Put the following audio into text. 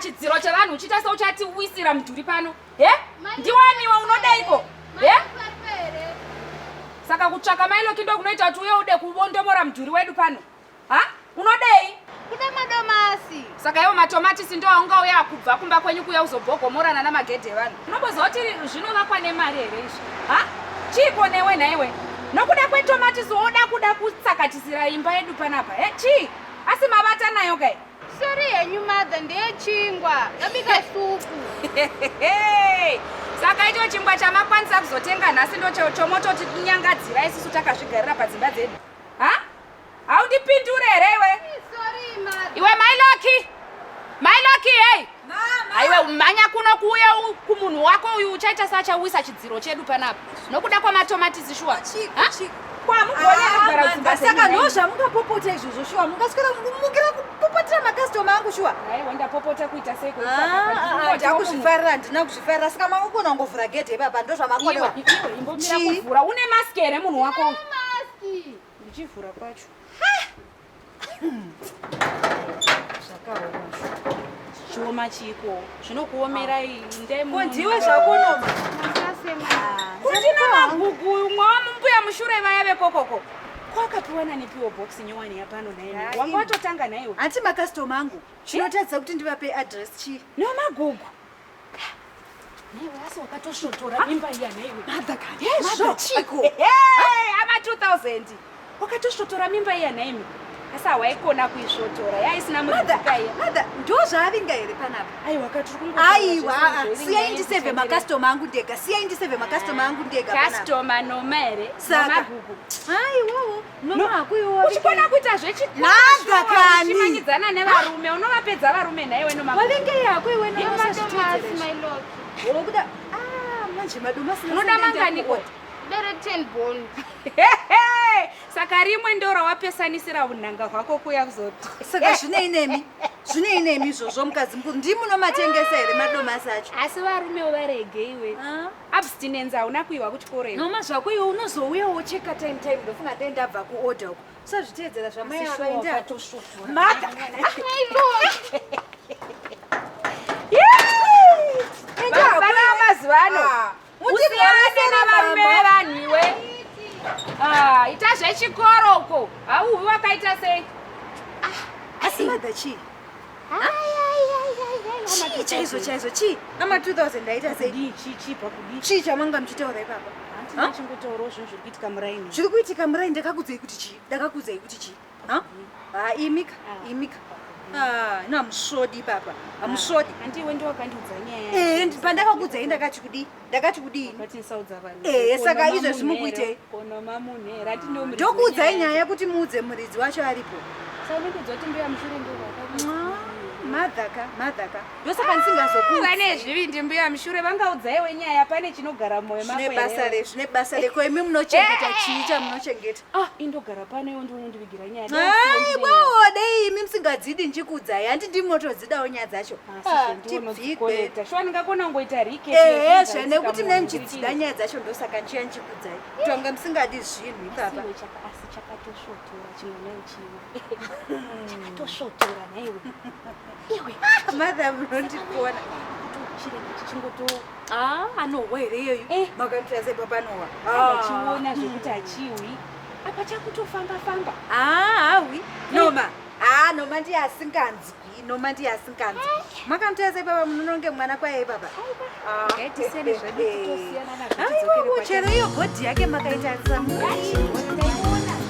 chidziro chevanhu uchiita seuchati uisira mudhuri pano he ndiwaniwe unodaiko he saka kutsvaka mailoki ndokunoita kuti uye ude kubondomora mudhuri wedu pano Ha? Unodei? Kuda madomasi. Saka iwo matomatisi ndo aunga uya kubva kumba kwenyu kuya uzobhogomorana namagedhe vanhu. Unomboziva kuti zvinovakwa nemari here izvi? Ha? Chiiko newe nhaiwe? Nokuda kwetomatisi woda kuda kutsakatisira imba yedu panapa. He? Chii? Asi mavata nayo kai? Sorry henyu mother ndeyechingwa. Ndabika supu. Saka icho chingwa chamakwanisa kuzotenga nhasi ndocho chomototi nyangadzira isusu takazvigarira padzimba dzedu. Ha? Haundipindure here iwe? Iwe mai Loki. Mai Loki hey. Haiwe umhanya kuno kuuya kumunhu wako uyu uchaita sachawisa chidziro chedu panapa. Nokuda kwamatomatisi shuwa. Saka ah, ndo zvamungapopota izvozvo shuwa mungaswera mukira kupopotera makastoma angu shuwa ndapopota kuita sei ndakuzvifarira ah, ah, handina kuzvifarira saka makukona kungovhura gedhe ipapa ndo zvamakonewa une mask here munhu wako ndichivhura kwacho zvakaoma chioma chiko zvinokuomerai ndaimudiwe zvakunoma kutinamagugu umwe wamumbuya mushure vaya vekokoko kwakapiwa nanipiwo box nyowani yapano naye wanga watotanga naiwe hati makastoma angu chinotaridza kuti ndivape adress chii nomagugu wakatosvotora mimba iya nhaimi asi hawaikona kuisvotora yaisina mudzikaiya ndo zvaavinga here panapa aiwa siyai ndiseve makastoma angu ndega siyai ndiseve makastoma angu ndega kastoma noma here saka aiwawo uchikona kuita zvechikwaga kani uchimanyidzana nevarume unovapedza varume nhaiwe nomawavingeyi hako iwe nomaokuda ah, manje madomasi unoda mangani koti bere 10 bond saka rimwe ndo rawapesanisira unhanga hwako kuya kuzoti saka zvinei nemi zvinei nemi izvozvo mukadzi mukuru ndimunomatengesa here madomasi acho asi varumewo varegeiwe ah. abstinence hauna kuiwa kuchikoro iwe noma zvako iwe unozouya wocheka time time ndofunga dai ndabva kuorder uko usazviteedzera zvamai ava enda maka endaa mazuva ano ah. usiyane nevarume vevanhu iwe ah, ita zvechikoro uko hauvi wakaita sei ah, asi madha chii chii chaizvo chaizvo chii ama 2000 ndaita sei chii chamanga muchitaura ipapa chiri kuitika murai ndakakudzei kuti chii ndakakudzei kuti chii ha imika ah. imika ah, ina musvodi papa hamusvodi ah, eh, pandakakudzei ndakati kudii ndakati kudii ehe saka izvezvi mukuitei ndokuudzai nyaya yekuti muudze muridzi wacho aripo madhaka madhaka ndosaka ndisingazokuane zvivindi mbuya mushure vangaudzaiwe nyaya pane chinogara moyo zvine basa rekoimi munochengeta chii chamunochengeta Ah, indogara pano iwe ndiwe unondivigira nyaya. Hai, wawo dei imi musingadzidi ndikudzai. Hanti ndimi motodzidawo nyaya dzacho. Ah, tibvigwe. Shwa ndingakona kungoita rike. Eh, zve nekuti mne muchidzida nyaya dzacho ndosaka nchiya ndikudzai. Tonga musingadi zvinhu ipapa. Asi chakatoshotora chimwe nayo chimwe. Chakatoshotora naiwe. Iwe. Mother munondipona. Chirenge chichingoto Ah, anohwa here iyeyu? Eh. Makaitira sei papa anohwa? Ah. Achiona zvekuti achiwi. Apa chakutofamba famba. Ah, awi. Eh. Noma. Ah, Noma ndiye asinganzwi. Noma ndiye asinganzwi. Eh. Makamutoya sei papa munononge mwana kwaye baba? Ah. Ngatisene zvedu kutosiyana nazvo. Aiwa, chero iyo body yake makaita samu. Ngachiona.